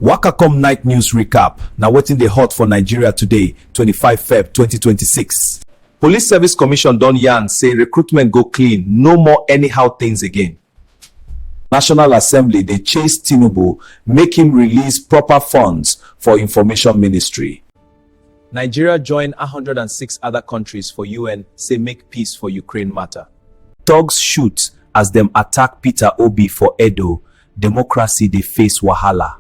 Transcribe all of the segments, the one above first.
Waka come night news recap. Na wetin dey hot for Nigeria today, 25 Feb 2026. Police Service Commission don yarn say recruitment go clean, no more anyhow things again. National Assembly dey chase Tinubu make him release proper funds for information ministry. Nigeria join 106 other countries for UN say make peace for Ukraine matter. Thugs shoot as dem attack Peter Obi for Edo, Democracy dey face wahala.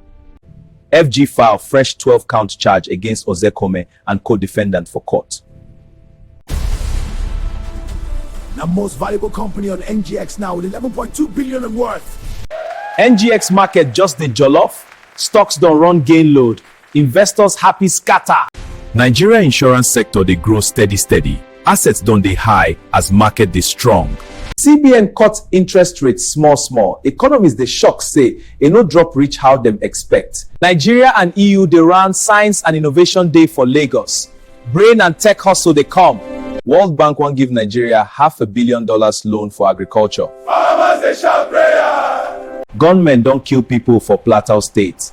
FG file fresh twelve count charge against Ozekhome and co-defendant for court. Na most valuable company on NGX now with 11.2 billion in worth. NGX market just dey jollof, stocks don run gain load Investors happy scatter. Nigeria insurance sector dey grow steady steady, assets don dey high as market dey strong. CBN cut interest rate small small, economists dey shock say e no drop reach how dem expect. Nigeria and EU dey run Science and Innovation Day for Lagos, Brain and Tech Hustle dey come. World Bank wan give Nigeria half a billion dollars loan for agriculture. Farmers dey shout prayer. Gunmen don kill pipo for Plateau State.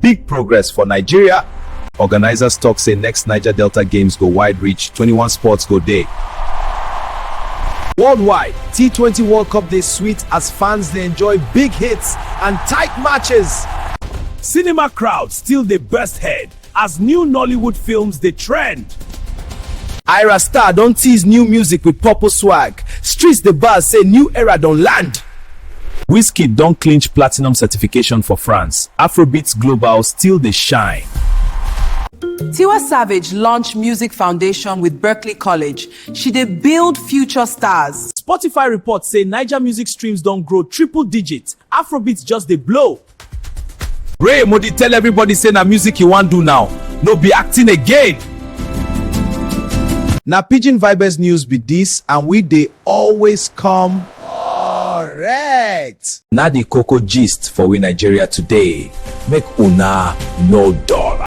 Big progress for Nigeria. Organizers talk say next Niger Delta Games go wide reach, 21 sports go day. Worldwide, T20 World Cup dey sweet as fans dey enjoy big hits and tight matches. Cinema crowd still dey burst head as new Nollywood films dey trend. Ira Star don tease new music with purple swag. Streets dey buzz say new era don land. Wizkid don clinch platinum certification for France, Afrobeats Global still dey shine. Tiwa Savage launch music foundation with Berklee College, she dey build future stars. Spotify report say Naija music streams don grow triple digit, Afrobeats just dey blow. Ray Modi tell everybody say na music he wan do now, no be acting again. Na Pidgin Vibes news be dis and we dey always come correct. Na the koko gist for we Nigeria today, make una no dull.